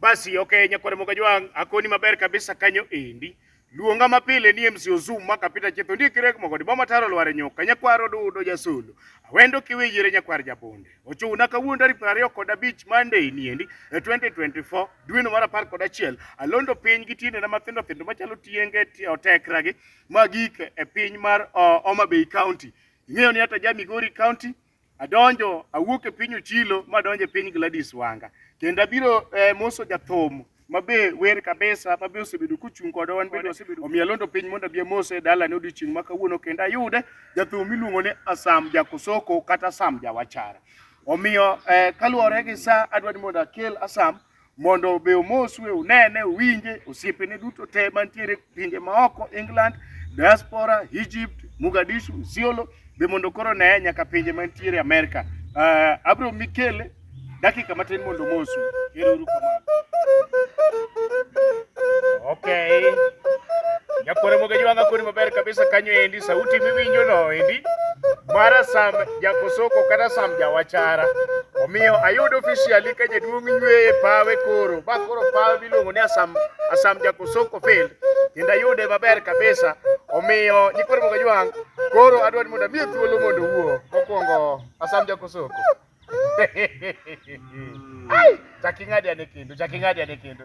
Basi okay, nyakware moga jwang akoni maber kabisa kanyo endi. Luonga mapile ni MC Ozum ma kapita chetho ndie kirek mogo di boma taro lware nyoka nyakwaro dudo jasulu. Awendo kiwe yire nyakwar jabonde. Ochuna kawuono tarik 20 kod abich Monday ni endi e 2024 dwe no mar 10 kod achiel alondo piny gi tiende na mathindo thindo machalo tienge otekra gi magik e piny mar uh, Homa Bay County. Ing'eyo ni hata ja Migori County Adonjo awuok e piny Ochilo ma adonjo e piny Gladys Wanga. Kendo abiro eh, moso jathum mabe wer kabisa mabe osebedo kuchung' kod wan bende osebedo omiyo alondo piny mondo abie mose e dala ne odiochieng' ma kawuono kendo ayude jathum iluongo ni Asam Jakosoko kata Asam Jawachara. Omiyo eh, kaluwore gi sa adwa ni mondo akel Asam mondo obe omoswe, unene, uwinje, osiepene duto te mantiere pinje maoko, England, diaspora, Egypt, Mogadishu, Isiolo, be mondo koro oneye nyaka pinje mantiere Amerika. Uh, eh, abro mikele dakika matin mondo omosu. Ero uru kamano. Okay. Nyakwara moga jwanga kuni maber kabisa kanyo endi, sauti miwinjo no endi. Mara sama Jakosoko kata Sam Jawachara. Omiyo ayudo officially ka jaduong' nyweyo e pawe koro. Ba koro pawe miluongo ni Asam Asam Jakosoko Field. Kendo ayude maber kabisa. Omiyo nikoro mogo jwang' koro adwa ni mondo amiye thuolo mondo owuo. Mokwongo Asam Jakosoko. Ai, chaking'adi ane kendo, chaking'adi ane kendo.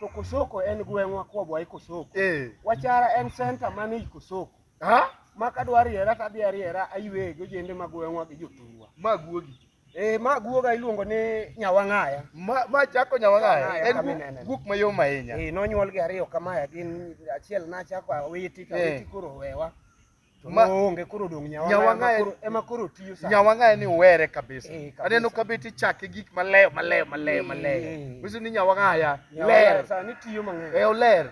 To Kosoko en gweng'wa kwabwa e Kosoko. Eh. Wachara en center man ei Kosoko. Ha? Ma kadwa riera to adhi ariera aywe gi ojende ma gweng'wa gi jothurwa. Ma guogi. Eh, ma guoga iluongo ni Nyawang'aya. Ma, ma chako Nyawang'aya Nyawang'aya en kama gu- ineneno. guok mayom ahinya. Eh, nonyuolgi ariyo kamaya gin achiel nachako awiti to Eh. awiti koro wewa. Ma- onge koro odong' Nyawang'aya Nyawang'aya- koro- ema koro tiyo sani. Nyawang'aya ni uwere kabisa. Eh, kabisa. Aneno ka beti chake gik maleyo maleyo maleyo maleyo. Eh. Wisu ni Nyawang'aya Nyawang'aya ler. sani tiyo mang'eny. Eh oler.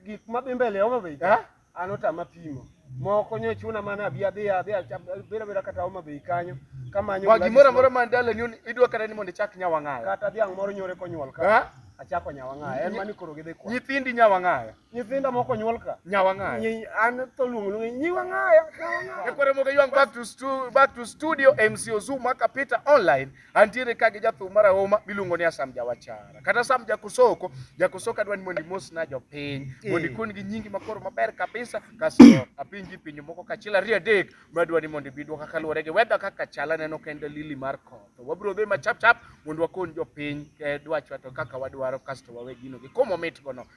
Gik madhi mbele Homa Bay Ha? an otama pimo. Moko nyo chuna mana abi adhi adhi abira bira kata Homa Bay kanyo kamanyo Wa gimoro Gladys amora man dala ni un- idwa kata ni mondo ichak Nyawang'aya. kata dhiang' moro nyore konyuol ka Ha? achako Nyawang'aya en mani koro gidhi kwa. Nyithindi Nyawang'aya. Nyithinda moko nyuol ka. Nyawang'aya. Nyi- An to luongo luongo nyiwang'aya. Nyawang'aya. Ekwere moke ywang back to stu, back to studio MC Ozuma kapita online antiere ka gi jathum marahuma miluongo ni Asam Jawachara kata Sam Jakosoko Jakosoko adwa ni mondo imos na jopiny mondo ikon gi nyingi makoro maber kabisa kasto apinji pinje moko kachiel ariyo adek madwa ni mondo ibi dwoka kaluwore gi weather kaka chal aneno ka en dalili mar koth wabiro dhi ma chap chap mondo wakon jopiny eh, dwachwa to kaka wadwaro kasto wawe gino gi komo mitgono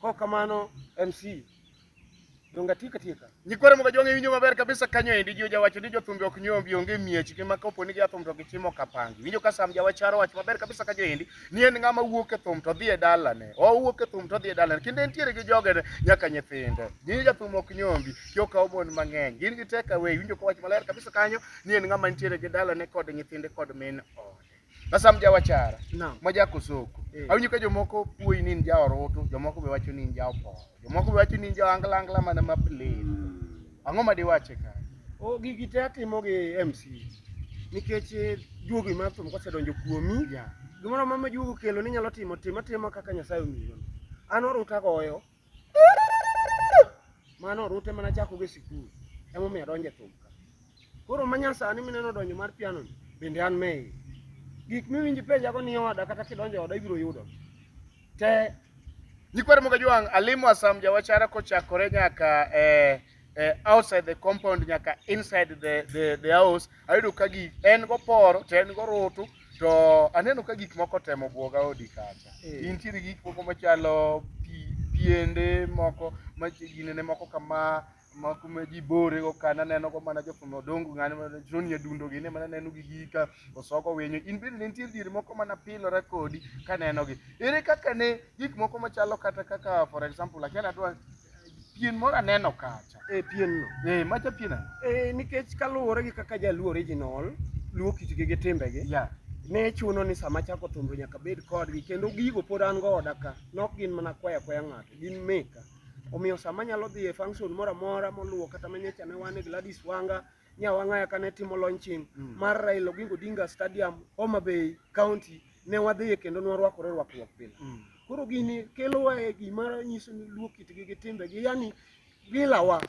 Kok kamano MC donga tika tika. Nyikwara mga jonge winjo maber kabisa kanyo endi jio jawacho ni jothumbe ok nyombi onge miech kima kapo ni jathum to gichimo kapangi. Winjo ka sam jawacharo wach maber kabisa kanyo endi ni en ng'ama wuok e thum to dhi e dalane. O wuok e thum to dhi e dalane. Kinde entiere gi joge nyaka nyithinde. Ni jathum ok nyombi kyo ka obon mang'eny. Gin gi teka we winjo ka wach maler kabisa kanyo ni en ng'ama nitiere gi dalane kod nyithinde kod min ode. Sasa mjawachara no. maja kosoko eh. awinjo ka jomoko puoyi ni in ja orutu jomoko be wacho ni in ja oporo jomoko be wacho ni in ja angla angla mana ma play ang'o ma diwache ka o gigi te atimo gi MC nikech eh, juogi mar thum kosedonjo kuomi yeah. gimoro ma majuogo kelo ni nyalo timo tim atimo kaka Nyasaye omiyo an oruta goyo Mano orute mana chako go e sikul emomiyo adonjo e thum ka. Koro manyasani mineno donjo mar piano ni bende an me iye. Gik miwinji penjago ni oda kata kidonjo e oda ibiro yudo te Nyikwa Ramogi Ajwang', alimo Asam Jawachara kochakore nyaka e eh, outside the compound nyaka inside the, the, the house ayudo ka gik en goporo to en gorutu to aneno ka gik moko temo bwoga odi kacha Eh. intiere gi gik moko machalo pi- piende moko maginene moko kama moko ma ji borego ka naneno go mana jofwambo odongo ng'ani ma- joni adundo gine mana neno gi gika osoko winyo in bende ne nitie diere moko mana pilora kodi kanenogi ere kaka ne gik moko machalo kata kaka for example akiana dwa pien moro aneno kacha e pien no e macha pien ano e nikech kaluwore gi kaka jaluo original luo kitgi gi timbegi yeah. ne chuno ni sama chako thumbe nyaka bed kodgi kendo gigo pod an go oda ka nok gin mana kwaya kwaya ng'ato gin meka omiyo sama nyalo dhi e function moro amora moluwo kata manyacha ne wan e Gladys Wanga Nyawang'aya kane timo launching mm. mar Raila Oginga Odinga Stadium Homa Bay County ne wadhiye kendo ne warwakore rwakruok pile mm. koro gini kelowa e gima nyiso ni luo kitgi gi timbegi yani gilawa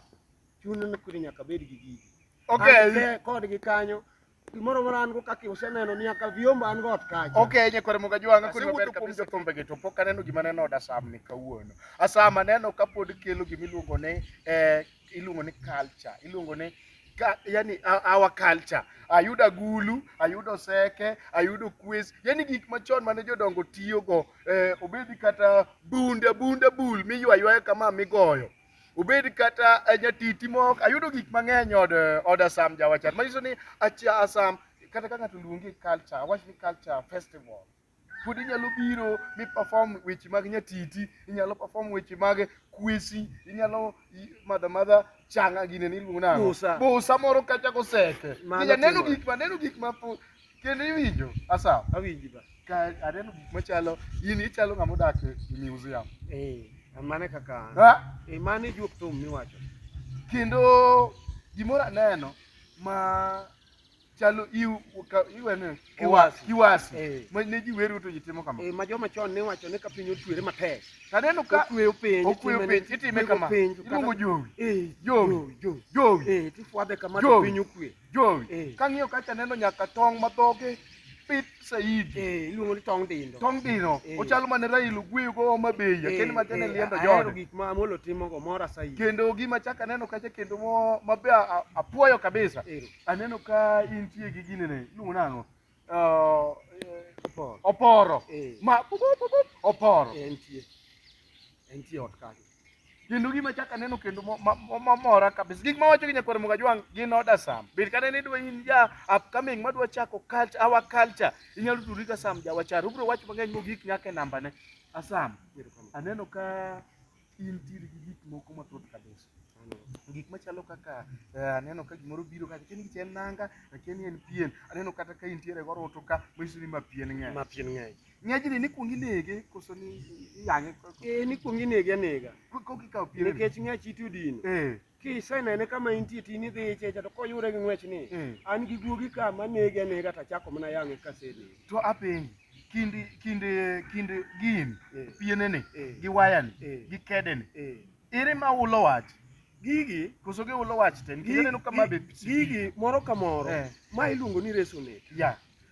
chuno ni kudi nyaka bed gi gigi okay. kodgi kanyo gimoro moro an go kaka useneno ni aka viomba an go ot kacha okay nyakwar moga jwanga kuni maber kabisa kombe geto pok aneno gima neno da sam ni kawuono asama neno kapod kelo gimiluongo ni eh, iluongo ni culture, iluongo ni ka, yani our culture. Ayudo agulu, ayudo seke, ayudo kwes, yani gik machon mane jodongo tiyogo eh, obedi kata bunda bunda bul miywa ywaya kama migoyo obed kata eh, nyatiti moko ayudo gik mang'eny od eh, od Asam jawachat manyiso ni acha Asam kata ka ng'ato luongi culture awach ni culture festival pod inyalo biro mi perform weche mag nyatiti inyalo perform weche mag kwesi inyalo i- madha madha changa gine ni iluongo nang'o? Busa. busa moro kacha koseke Mano Inya neno timore. gik ma neno gik ma po- kendo iwinjo asa awinji ba ka aneno gik machalo in ichalo ng'ama odak e e museum eh mane kaka an Ha? eh mane juok thum miwacho kendo gimoro aneno ma chalo iu ka iwene Kiwasi. kiwasi Eh. ma ne ji wero to ji timo kama Eh, ma joma chon ne wacho ni ka piny otwere matek taneno ka okweyo piny okweyo itime ni- piny itime ikwego kama piny, to kata- iluongo jowi Eh, Jowi. jowi. jowi Eh, tifwadhe kama to Jowi. piny okwe jowi Eh. kang'iyo kacha neno nyaka tong' ma dhoge pit saidi Eh, iluongo ni tong dindo tong' dino Eh. ochalo mane railo gweyo go homa bay Eh, akeni ma tene eh, liendo ahero jode gik ma amolo timogo mora saidi kendo gima chaka neno kacha kendo mo- mabe a- a- apuoyo kabisa Ero. aneno ka intie gi gine ne iluongo nang'o Ah, Oporo. oporo Eh. ma pup, pup, pup, pup, oporo Eh, Entie. Entie ot kanyo. kendo gima chak aneno kendo mo- ma- mo- mamora kabisa gik mawacho gi nyakwar mugajwang gin oda sam bet kata ne idwa in ja upcoming madwa chako culture our culture inyalo tudri ka sam jawachar ubro wacho mang'eny mogik nyaka e nambane asam Erokamano. aneno ka intiere gi gik moko mathoth kabisa gik machalo kaka eh, aneno ka gimoro biro ka akia ni gicha en nanga akia ni en pien aneno kata ka intiere goroto ka manyiso ni ma pien ng'eny ma pien ng'eny ng'ejni ni kuong inege koso ni iyang'e ee ni kuong inege anega kokikawo pien nikech ng'ech ite odino ee kisenene kama intie tini dhi ichecha to koyude gi ng'wech ni mm. an gi guogi ka manege anega to achako mana yang'e kasene to apenji kindi kindi kindi gin eh. pienene eh. gi wayani eh. gi kedene ere ma ulo wach gigi koso gi ulo wach te nikech aneno kama be gigi moro ka moro ma iluongo ni resonate yeah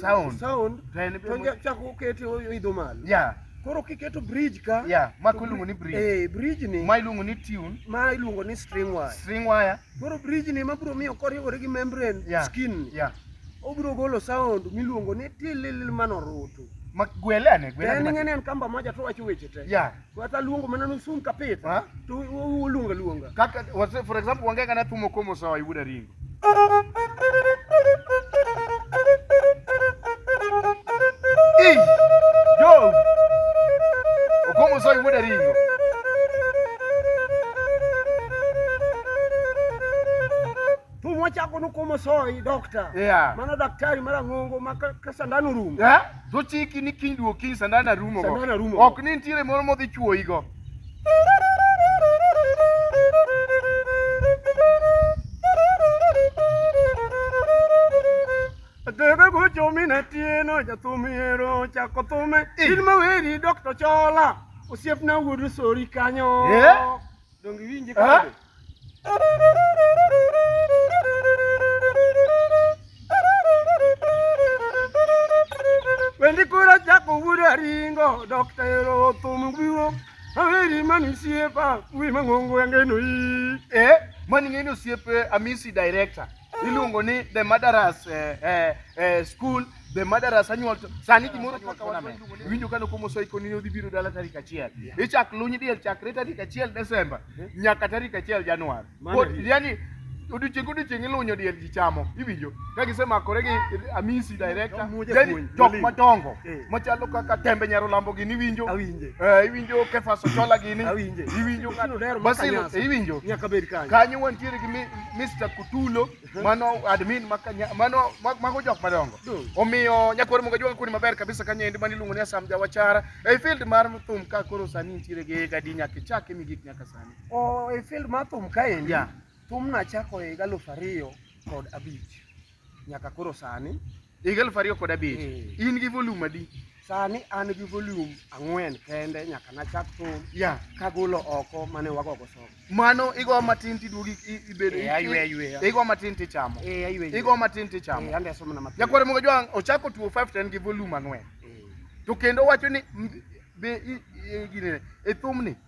sound sound to chak ukete idho malo yeah Koro kiketo bridge ka yeah, ma iluongo ni bridge eh, bridge ni ma iluongo ni tune ma iluongo ni string wire string wire. Koro bridge ni ma bro miyo koriwore gi membrane yeah. skin yeah. obro golo sound miluongo ni tililil mano rutu makgwele ane gwele ane. En ng'ene en kamba moja to wacho weche te yeah. Wata luongo mana nusum kapita. Ha? To uluonga luonga. Kaka wase for example wange kana tumo komo sawa ibuda ringo. Ih! Yo! Okomo sawa ibuda ringo. Thum wachako nukomo soyi dokta. Yeah. Mano daktari mara ng'ongo ma ka, ka sandan orumo. Yeah. To chiki ni kiny duo kiny sandan arumo. Sandan arumo. Ok ni nitiere moro modhi chuoyi go. Debe gocho mina tieno jathum hero chako thume. In maweri dokta chola. Osiepna wuod sori kanyo. Yeah. Donge iwinje Ah. kode? Wendi kura chako wuda ringo Dr. Ero thum gwiro Aweri mani siepa Wi mangongo yange no i Eh, mani ng'eni osiepe Amisi director. iluongo ni the murderers eh, eh, eh, school the murderers annual to- sani gimoro kaka wan iluongo ni- winjo kano komo soiko ni odhi biro dala tarik achiel ichak luny diel chakre tarik achiel desemba nyaka tarik achiel januar Mano Pod- hit. yani odiochieng' odiochieng' ilunyo diel ji chamo iwinjo ka gisemakore gi amisi director Jomuoje yani puonj, jok joling. madongo Eh. machalo kaka tembe nyarolambo gini iwinjo Awinje. Eh, iwinjo kefas ochola gini Awinje. iwinjo Otieno Dero ma Basil, Kanyasa. iwinjo Nyaka bed kanyo. kanyo wantiere gi mi- Mr. Kutulo mano admin makanya mano mago jok madongo omiyo nyakwar moga jwa kuni maber kabisa kanyendi mani luongo ni Asam Jawachara e field mar thum ka koro sani nitiere gi gadi nyaka chake mi gik nyaka sani o e field mar thum kaendi yeah. thum nachako e higa aluf ariyo kod abich nyaka koro sani higa elfu ariyo kod abich mm. in gi volume adi sani an gi volume ang'wen kende nyaka nachak thum yeah. kagolo oko mane wagogo somo mano igo matin tiduogi ibedo eh, ayweya yweya igo matin tichamo eh, ayweya igo matin tichamo eh, andeso mana matin yakwara mogo jwang ochako tuo 5 ten gi volume ang'wen to kendo wacho ni be gine e thumni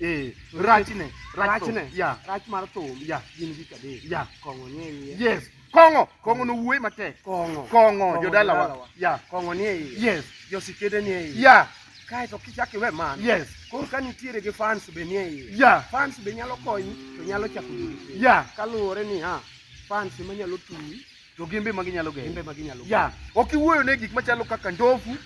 Eh, rachne, rachne, yeah. Rach mar thum, yeah. Gin gik adek. Yeah. Kong'o nie iye. Yes. Kong'o, kong'o no wuoyi matek. Kong'o. Kong'o, jodalawa. Yeah. Kong'o nie iye. Yes. Josikede nie iye. Yeah. Kae to kichak iwe man. Yes. Koro ka nitiere gi fans be nie iye. Yeah. Fans be nyalo konyi to nyalo chako dweche. Yeah. Kaluwore ni ha, fans ema nyalo tuyi to gin be magi nyalo geng'o. Ya, ok iwuoyo ne gik machalo kaka ndofu,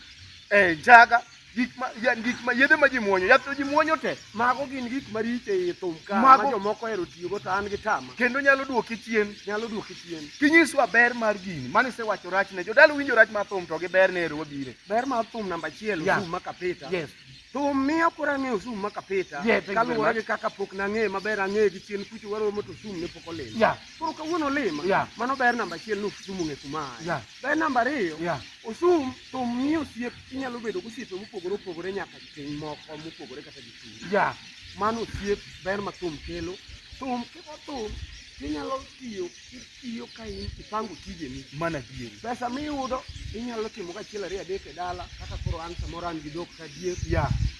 eh, njaga, gik ma ya, gik ma yedhe ma ji muonyo, yath to ji muonyo te. Mago gin gik maricho ei thum ka Mago- ma jomoko ohero tiyogo to an gi tama. Kendo nyalo duoki chien. Nyalo duoki chien. Kinyiswa ber mar gini, mane isewacho rachne. Jodala winjo rach mar thum to gi ber ne ero wabire. Ber mar thum namba achiel Yeah. osum ma kapita. Yes. Thum miyo koro ang'eyo osum ma kapita. Yeah, thank you very kaluwore much. gi kaka pok nang'eye maber ang'eye gi chien kucho waromo to osum ne pok olil. Ya, Koro kawuono lima. Yeah. Mano ber namba achiel ni Osum ong'e kuma aye. Yeah. Ber namba ariyo. Yeah. Osum to miyo osiep inyalo bedo gi osiepe mopogore opogore nyaka ting' moko mopogore kata gi chuny. Yeah. Mano osiep ber ma thum kelo. Thum kiko thum inyalo tiyo itiyo ka in ipango tijeni. Mana adieri. Pesa miyudo inyalo timo kachiel ariyo adek e dala kaka koro an samoro an gi dhok ka diek. Yeah.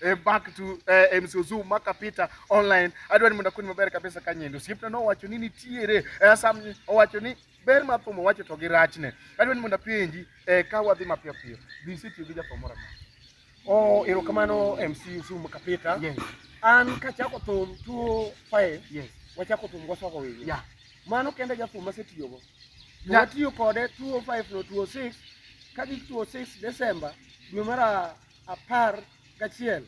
eh, back to eh, eh MC Ozu maka Peter online adwa ni mondo akoni maber kabisa ka nyendo osiepna nowacho ni nitiere eh, sam owacho ni ber ma thum owacho to gi rachne adwa ni mondo apenji eh, ka wadhi mapiyo piyo be isetiyo gi jathum moro amora Oh, erokamano MC Ozu maka Peter yes. an kachako thum 25 yes. wachako thum gwaswako wigi yeah. mano kende jathum masetiyogo yeah. watiyo kode 205 no 206 ka gi 206 Desemba dwe mara apar gachiel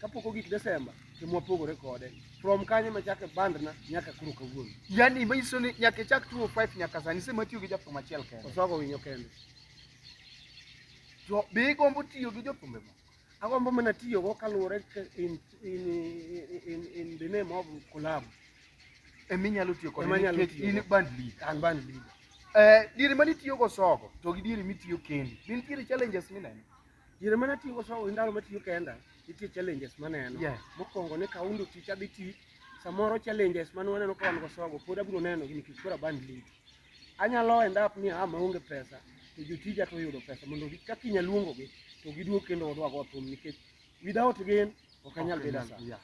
kapok ogik Desemba ema wapogore kode from kanye machake bandna nyaka kuro kawuono. Yani manyiso ni nyaka ichak 205 nyaka sani sema tiyo gi jafwambo achiel kende. Oswago winyo kende. To be igombo tiyo gi jofwambo moko? Agombo mana tiyogo kaluwore in, in, in, in, in the name of collab. ema inyalo tiyo kode nikech in band leader. An band leader. Eh, diere mane itiyo go sogo to gi diere mitiyo kendi. Be nitiere challenges mineno? Diere mane atiyo go sogo ndalo matiyo kenda nitie challenges maneno. Yeah. Mokwongo ne kaundo tich adhi tich samoro challenges mane waneno ka wan go sogo pod abiro neno gi nikech koro band leader. Anyalo end up ni ah maonge pesa to jotija to oyudo pesa mondo kaka inyaluongogi to giduog kendo wadwag wathum nikech Without rain ok anyal bedo as we are.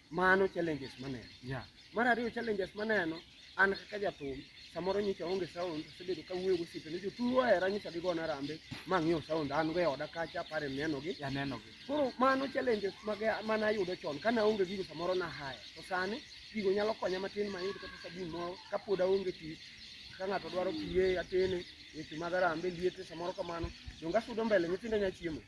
Mano challenges maneno. Yeah. Mar ariyo challenges maneno an kaka jathum samoro nyicha onge sound asebedo ka wuoyo gosiepe ni jotuo ohera nyicha gigona rambe ma ng'iew sound an go e oda kacha apare nenogi Yeah, neno gi. koro mano challenges mage mane ayudo chon kane aonge gigo samoro nahaya to sani gigo nyalo konya matin mayud kata sabun moro kapod aonge pi ka ng'ato dwaro piye atene weche mag arambe liete samoro kamano donge asudo mbele nyithindo nya chiemo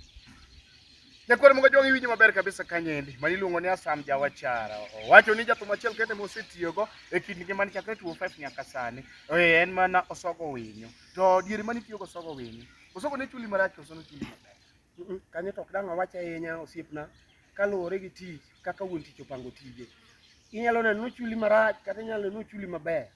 Nyakwar Munga Jong iwinjo maber kabisa kanyendi ma iluongo ni Asam Jawachara. Owacho ni jathum achiel kende mosetiyogo e kind ngimane chakre 2005 nyaka sani eh, en mana Osogo Winyo. To diere mane itiyogo Osogo Winyo? Osogo ne chuli marach koso ne chuli maber? Kanyo to ok dang' awach ahinya osiepna kaluwore gi tich kaka wuon tich opango tije. Inyalo neno ni ochuli marach kata inyalo neno ni ochuli maber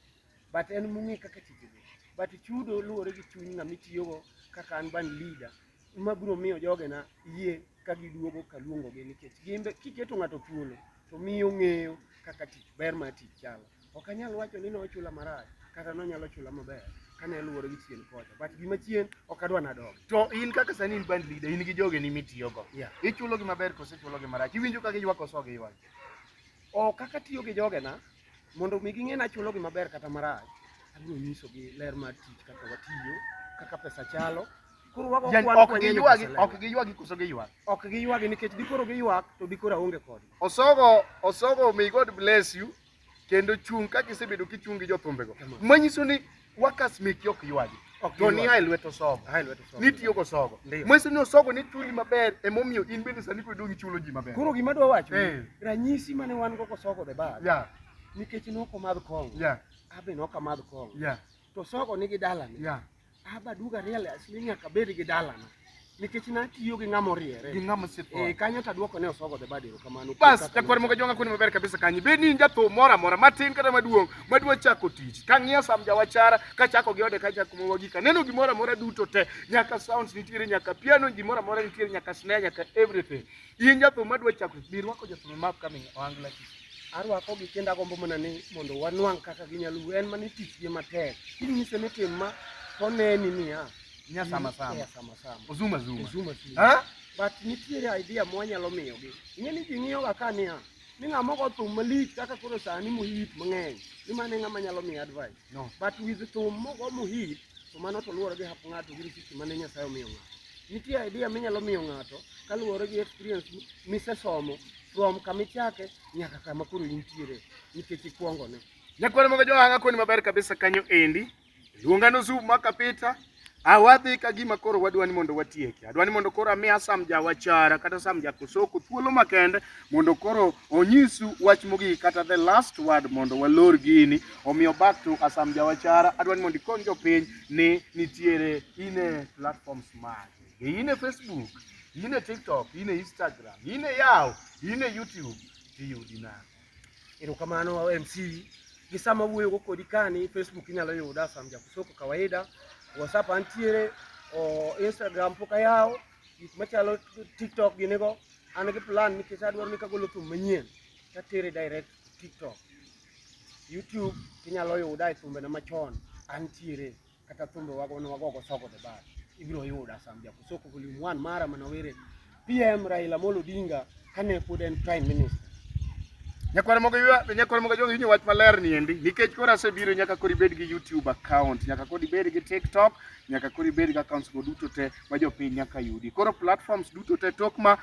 but en mong'e kaka tich dhi. But chudo luwore gi chuny ng'ama itiyogo kaka an ban leader ma biro miyo jogena yie ka giduogo kaluongogi nikech gin be kiketo ng'ato thuolo to miyo ng'eyo kaka tich ber mar tich chalo. Ok anyal wacho ni nochula marach kata nonyalo chula maber kane luwore gi chien kocha but gima chien ok adwa nadog to in kaka sani in band leader in gi jogeni mitiyogo yeah. ichulogi maber kose chulogi marach iwinjo ka giywak kose ok giywak ok kaka tiyo gi jogena Mondo mi ging'e ni achulo gi maber kata marach, abiro nyisogi ler mar tich kaka watiyo, kaka pesa chalo. Koro wago Yani, kwan ok kwenye ni giywagi pesa ler. ok giywagi koso giywak ok giywagi nikech dikoro giywak to dikoro aonge kodgi. osogo osogo may god bless you kendo chung' kaka isebedo kichung' gi jothumbego manyiso ni Workers make yok ywaji. Ok to ni hai lweto sogo. Hai lweto sogo. Ni tiyo go sogo. Mwese ni osogo ni chuli maber e momiyo in bende sani kwedo ngi chulo ji maber. Kuro gima dwa wacho. Eh. Ranyisi mane wan go ko sogo the bar. Yeah. Nikech no ko madh kong. Yeah. Abe no ka madh kong. Yeah. To sogo ni gi dalani. Yeah. Aba duga real asli nyaka bed gi dalana. nikech natiyo gi ng'ama oriere gi ng'ama osepon eh kanyo to aduoko ne osogo the bad erokamano bas jakwar moga jonga kuni maber kabisa kanyi be ni jathum mora mora matin kata maduong' madwa chako tich kang'iya sam jawachara kachako gi ode kachako mowa gika neno gimora mora duto te nyaka sounds nitiere nyaka piano gimora mora nitiere nyaka snare nyaka everything in jathum madwa chako bi rwako jathum map coming oangla tich arwako gi kendo agombo mana ni mondo wanwang' kaka ginyalo en mana tich gi matek inyise ni tim ma toneni niya Nya sama sama. Nya sama sama. Ozuma zuma. Ozuma zuma. Ha? But nitiere idea mwanyalo miyogi. Ing'e ni ji ng'iyoga ka niya ni ng'a moko thum malich kaka koro sani mohit mang'eny ni mane ng'ama nyalo miyo advice no. but with thum mogo mohit to mano to luwore gi hap ng'ato gi risiti mane nyasaye omiyo ng'ato nitie idea minyalo miyo ng'ato kaluwore gi experience misesomo from kama ichake nyaka kama koro intiere nikech ikwongone nyakwar mogo johanga koni maber kabisa kanyo endi Luonga nosup ma kapita awadhi ka gima koro wadwa ni mondo watieki. Adwa ni mondo koro amiya Sam Jawachara kata Sam Jakosoko thuolo makende mondo koro onyisu wach mogik kata the last word mondo walor gini. Omiyo back to Asam Jawachara, adwa ni mondo ikony jopiny ni nitiere ine platforms mage. Be ine Facebook, ine TikTok, ine Instagram, ine yaw, ine YouTube, tiyudi nang'o? Erokamano MC. Gi sama wuoyo go kodi kani Facebook inyalo yuda Sam Jakusoko kawaida. WhatsApp antiere, o Instagram pok ayawo, gik machalo TikTok gini go. An gi plan nikech adwaro ni kagolo thum manyien tatere direct to TikTok. YouTube inyalo yuda e thumbena machon antiere. kata thumbe wago ne wagogo soko the bar ibiro yuda sam jaku soko volume 1 mara manawere PM Raila Amolo Odinga kane pod en prime minister Nyakwar mogo ywa nyakwar mogo jogi wach maler ni endi nikech kora asebiro nyaka kori bed gi YouTube account nyaka kori bed gi TikTok nyaka kori bed gi accounts go duto te ma jopiny nyaka yudi koro platforms duto te tok ma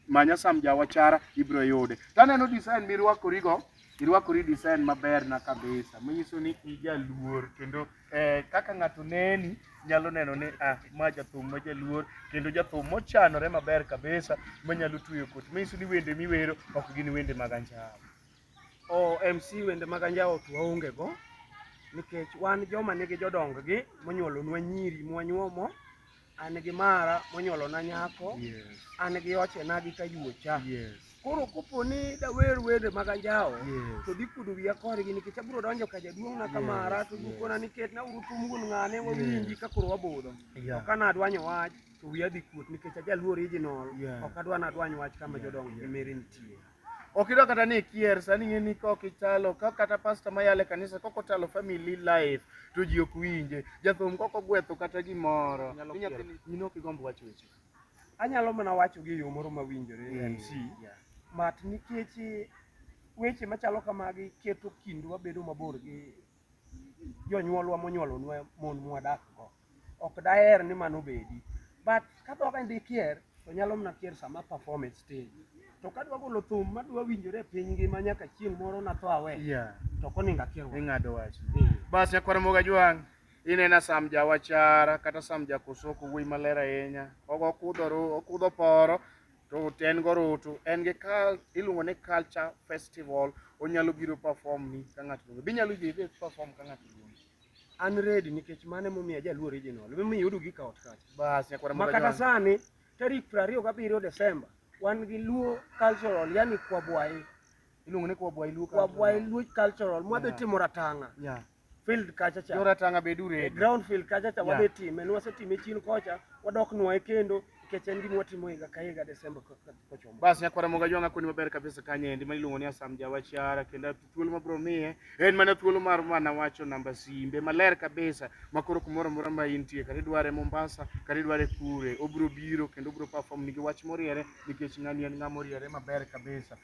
manya sam jawachara ibiro yude taneno design mirwakorigo irwakori design maber na kabisa manyiso ni ijaluor kendo eh, kaka ng'ato neni nyalo neno ni ah, ma jathum ma jaluor kendo jathum mochanore maber kabisa manyalo tueyo koti manyiso ni wende miwero ok gin wende mag anjawo o mc wende mag anjawo to waonge go nikech wan joma nigi jodonggi monyuolonwa nyiri mwanyuomo an gi mara monyuolona nyako an gi ochena gi kayuocha koro kopo ni dawer wende mag anjawo to dhi kudo wiya kodgi nikech abiro donjo ka jaduong'na ka mara to gikona ni ketna uru tum wuon ng'ane wawinji ka koro wabudho to ka nadwanyo wach to wiya dhi kuot nikech ajaluo original ok adwa nadwany wach kama jodongo gi mere nitie Ok idwa kata ni ikier sani ing'e ni kok ichalo ka kata pasta mayale kanisa kok otalo family life to ji ok winje. Jathum kok ogwetho kata gimoro. Nyalo Ni kier. nyathini- In ok igomb wacho weche. Anyalo mana wacho gi yo moro mawinjore Mm, MC. yeah. Mat nikech weche machalo kamagi keto kindwa bedo mabor gi jonyuolwa monyuolonwa mon mwadak go. Ok daher ni mano obedi. But ka dhok en dikier to nyalo mana kier sama perform e stage. To kadwa golo thum madwa winjore e piny ngima nyaka chieng' moro natho awe. Yeah. To ok onego akier wach. Ing'ado wach. Eh. Bas nyakwara moga jwang'. Inena Sam Jawachara kata Sam Jakosoko wuoyi maler ahinya. Ogo okudho ru, okudho poro. Tut en gorutu, en gi kal, iluongo ni culture festival, onyalo biro perform ni ka ng'ato luonge. Binyalo yie idhi perform ka ng'ato luonge. An ready nikech mano emomiyo ajaluo original. Emomiyo iyudo gi kaot kacha. Bas, nyakwara Ma moro kata John. sani tarik 27 Desemba wan gi Luo cultural yani Kwabwayi. Iluongo ni kwa bwai luo. Kwabwayi Luo cultural mwadhi Yeah. timo ratang'a. Yeah. field kacha cha. Joratanga be dure. E ground field kacha cha wabe time. Nwase time chini kocha. Wadok nwae kendo. Keche endi mwatimo higa ka higa Desemba kochomo. Basi nyakwara moga jwanga kuni maber kabisa kanye endi ma iluongo ni Asam Jawachara kendo thuolo mabro miye en mana thuolo mar mana wacho namba simbe maler kabisa makoro kumoro mora ma intie kata idware Mombasa kata idware kure obro biro kendo obro perform nigi wach moriere nikech ng'ani en ng'ama oriere maber kabisa.